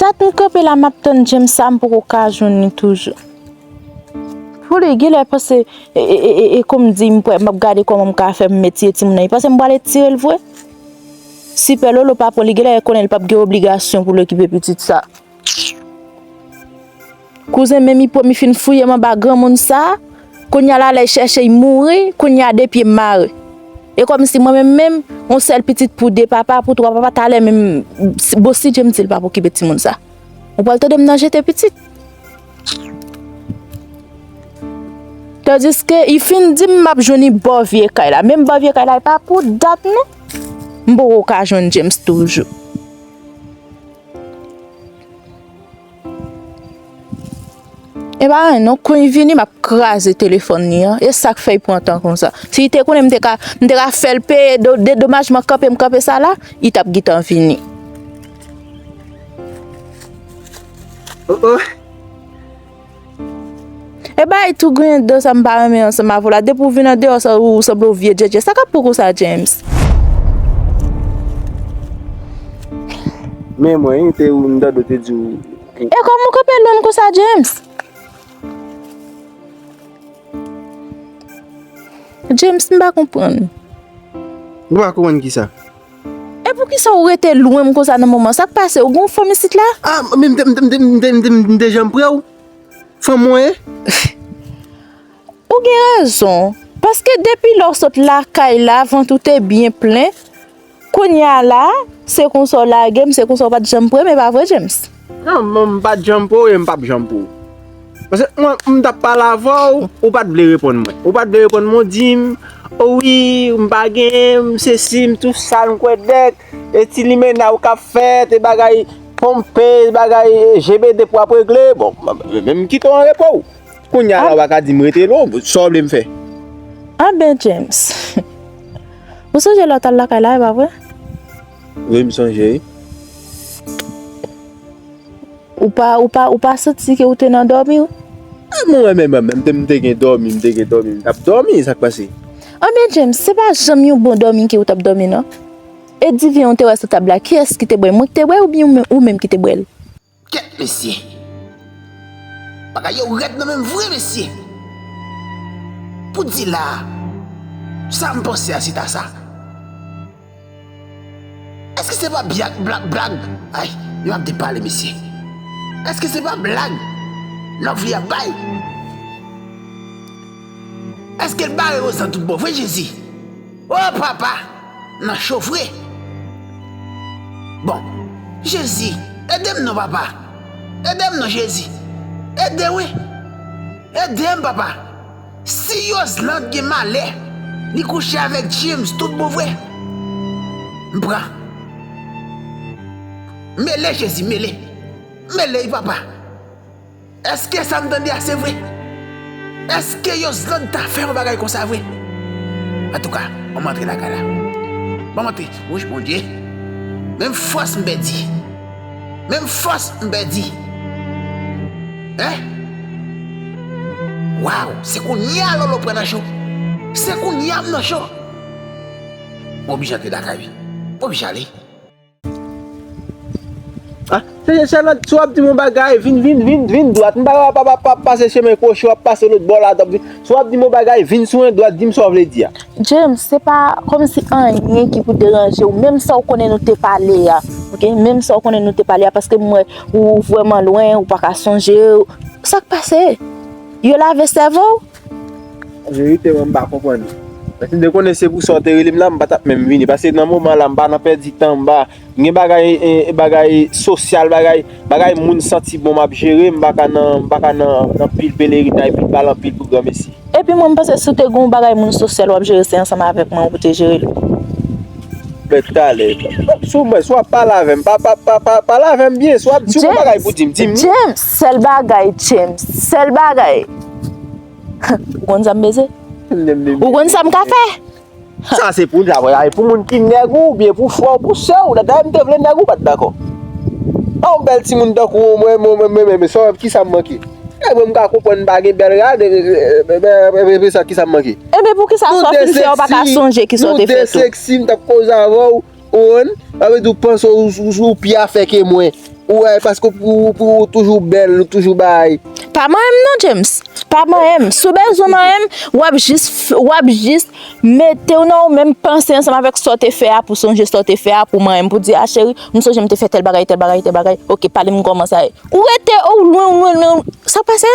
Dat m kanpe la map tann James sa m poko ka jwenn li toujou. Folle genlè panse e konm di m pwè map gade kòman m ka fè m mete timoun nan li panse m pwale tire l vre. Sipè lolo pa pran li genlè konnen li pap gen obligasyon pou l okipe pitit sa. Kouzen men mi pwemi fin fouyem anba granmoun sa, kounya la lèy chèchey mouri, kounya de pyem mare. E kòmsi mwen menm menm, yon sèl pitit pou de papa, pou twa papa talè menm bon si Dye m dil pap okipe timoun sa. Ou pwal tande m nan jete pitit. Tandiske y fin dim map jwenn y bò vye kay la, menm bò vye kay la e pa pou dat non. M poko ka jwenn James toujou. E pa anyen non, kon li vini map kraze telefòn li an, e sak fè li pran tan konsa. Si li te konnen m te ka, m te ka fèl peye do, de domajman kanpe m kanpe sa la, li tap gitan vini. O o! E bay tou griyen dan sa m pa renmen ansanm avè w la depi w vin andeyò ou sanble yon vye djèdjè sa kap pou kou sa James. Men mwen wi te ou m tande w te di w. E kòman w kanpe lwen m konsa James. James m pa konprann. Ou pa konprann kisa? E poukisa ou rete lwen m konsa nan moman sa k pase ou gen yon fanm isit la. A men m te janm pre w fanm mwen. Ou gen rezon paske depi lè w sot lakay la vant ou te byen plen kounya la se konsa w lage m se konsa w pat janm pre m e pa vre James. Non non m pat janm pou ou e m pap janm pou ou. Paske mwen m tap pale avè w, ou pat vle reponn mwen. Ou pat vle reponn mwen, ou di m, o wi m pa gen, m sesi, m tou sa, m kwè dèk, e ti limena ou kap fèt, e bagay ponpe, e bagay jebede pou ap regle. Bon, men m kite w an repo w. Kounye a la ou pa ka di m rete non, sa w vle m fè? Anben James, ou sonje lè w t al lakay la e pa vre? Wi m sonje wi. Ou pa santi ke ou te nan dòmi ou? A mwen menm menm menm m te gen dòmi m te gen dòmi m tap dòmi sak pase? Anben James se pa janm yon bon dòmi ke ou tap dòmi nan? E divyen ou te wè sou tab la kiyès ki te bwèl mwen ki te bwèl oubyen ou menm ki te bwèl? Kèt mesye. Bagay yo rèd nan menm vre mesye. Pou di la a. Sa m panse a se ta sa. Eske se pa byak blag blag. Ay yo ap depale mesye. Eske se pa blag Lovely ap bay. Eske l bare Roselande tout bon vre jezi. Oh papa nan cho vre. Bon jezi edem non papa edem non jezi ede wi edem papa si yosland gen malè li kouche avèk James tout bon vre m pran mele jezi mele mele wi papa. Eske sa m tande a se vre? Eske Yosland ta fè yon bagay konsa vre? Antouka, banm antre lakay la. Banm antre. Wouch Bondye! Menm fòs m pèdi. Menm fòs m pèdi. Hein? Waw! Se kounya Lolo pran nan cho. Se kounya m nan cho. M oblije antre lakay wi. M oblije ale. Sèlòt si w ap di m yon bagay, vin vin vin vin dwat. M pa wè w ap pase chemen kwochi, w ap pase lòt bò la. Si w ap di m yon bagay, vin sou en dwat, di m sa w vle di a. James, se pa kòmsi anyen ki pou deranje w. Menm sa w konnen nou te pale a. Ok, menm sa w konnen nou te pale a paske m wè ou vrèman lwen, ou pa ka sonje. Sa k pase? Yo lave sèvo w? Anverite mwen m pa konprann ou. Mwen si m te konnen se pou sa ou te rele m la m pa t ap menm vini paske nan moman la m pa nan pèdi tan m pa m gen bagay bagay sosyal bagay bagay moun santi bon m ap jere m pa ka nan m pa ka nan anpil pelerinay pou pale anpil pou granmesi. Epi mwen m panse si w te gen yon bagay moun sosyal w ap jere se ansanm avèk mwen pou w te jere l. Mwen tout alè. Si w mwen si w ap pale avè m pa pa pa pa pale avè m byen si w ap si w gen bagay pou di m di m li. James sèl bagay James sèl bagay. Ou konn sa m beze? Ou konn sa m ka fè? Sa se pou sa vre, pou moun ki nèg ou, oubyen pou frè ou, pou sè ou, dayè m te vle nèg ou pa t dakò. An w bèl timoun tankou ou mwen menm, sa w, ki sa m manke? Nèg mwen m ka konprann m pa gen bèl rad, epi sa ki sa m manke? Epi pou ki sa sa w fin fè ou pa ka sonje ki sa w te fè tou? Nou 2 seksi, m t ap koze avè w. Oon, sa vle di ou panse ou ou pi afè ke mwen. Ou wè, paske ou ou toujou bèl, ou toujou bay. Pa manyen m non James, pa manyen m. Si w bezwen manyen m, w ap jis, w ap jis mete w nan ou menm, panse ansanm avèk sa w te fè a, pou sonje sa w te fè a, pou manyen m, pou di a cheri, m sonje m te fè tèl bagay, tèl bagay, tèl bagay, ok pale m kòman sa ye. Ou rete, ou lwen, ou lwen, ou lwen, sa pase.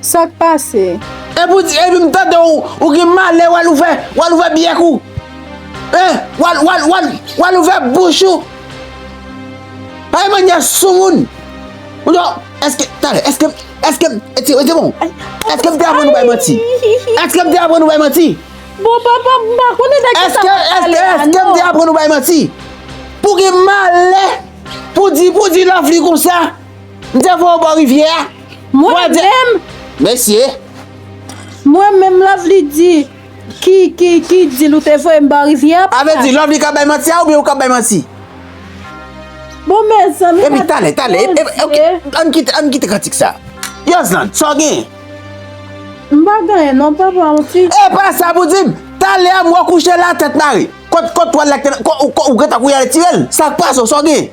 Sak pase? Epou di epi m tande w ou gen malè wal ouvè wal ouvè byèk ou hein wal wal wal wal ouvè bouch ou pa gen manyè soumoun ou non eske tande eske eske m ti wete bon eske m te aprann ou bay manti eske m te aprann ou bay manti bon papa m pa konnen de kisa wap pale la non eske eske eske m te aprann ou bay manti pou gen malè pou di pou di lafli konsa. M te vwe w bò rivyè a. Mwen menm. Mesye. Mwen menm Lovely di. Ki ki ki dil ou te vwe m bò rivyè a. A vle di Lovely kap bay manti a oubyen ou kap bay manti. Bon mezanmi. Epi tale tale. Ok ann kite ann kite kantik sa. Yosland sa w genyen. M pa genyen non papa on ti. E pa sa pou di m. Tale a m wè w kouche la tèt mare. Kot kot twal la ki te nan. Ou gentan kou y ale tire l. Sak pase w sa w genyen.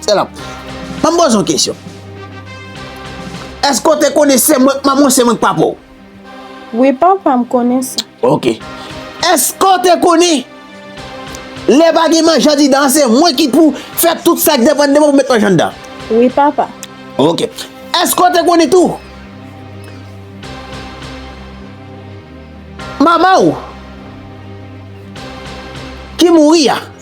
Selam. Banm poze yon kesyon. Eske ou te konnen se mwen ki manman ou se mwen ki papa ou? Wi papa m konnen sa. Ok. Eske ou te konnen lè pa gen manje andidan an se mwen ki pou fè tout sa ki depann de mwen pou met manje anndan? Wi papa. Ok. Eske ou te konnen tou manman ou ki mouri a?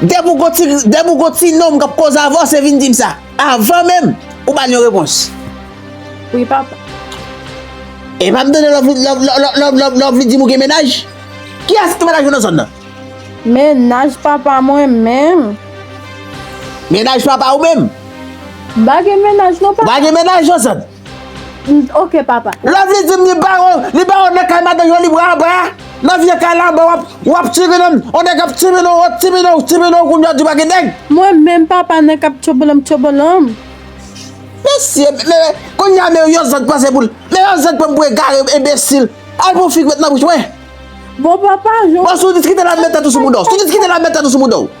Depi w gon ti nonm kap koz avan w se vin dim sa avan menm ou bal yon repons. Wi papa. Epa m tande lè w vin dim ou gen mennaj. Kiyès ki gen mennaj nan zòn nan? Mennaj papa mwen menm. Mennaj papa ou menm? M pa gen mennaj non papa. Ou pa gen mennaj nan zòn? Mph ok papa. Lovely dim li baw li baw nan kay madanm yo li bwa anba nan vye kay la anba wap tirinanm on nèg ap tirinanw wap tirinanw tirinanw kounya ou di pa gen nèg. Mwen menm papa nèg kap tchobolom tchobolom. Mesye me kounya me yon zòd panse poul me yon zòd pranm pou egare enbesil al pran yon fi ki met nan bouch mwen. Bon papa jan w. Bon si w diskite la met tèt ou sou mouda w si w diskite la met tèt ou sou mouda w.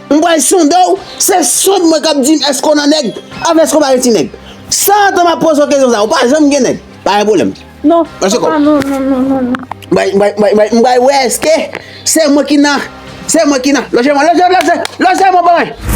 M pral sonde w, se sonde mwen kap di m èske w nan nèg, avè èske w pa gen ti nèg. San atan map poze w kesyon sa, ou pa janm gen nèg. Pa gen pwoblèm. Non, papa non, non, non, non, non. M pral, m pral, m pral, m pral wè èske se mwen ki nan, se mwen ki nan. Lonje mwen, lonje mwen, lonje, lonje mwen ban mwen.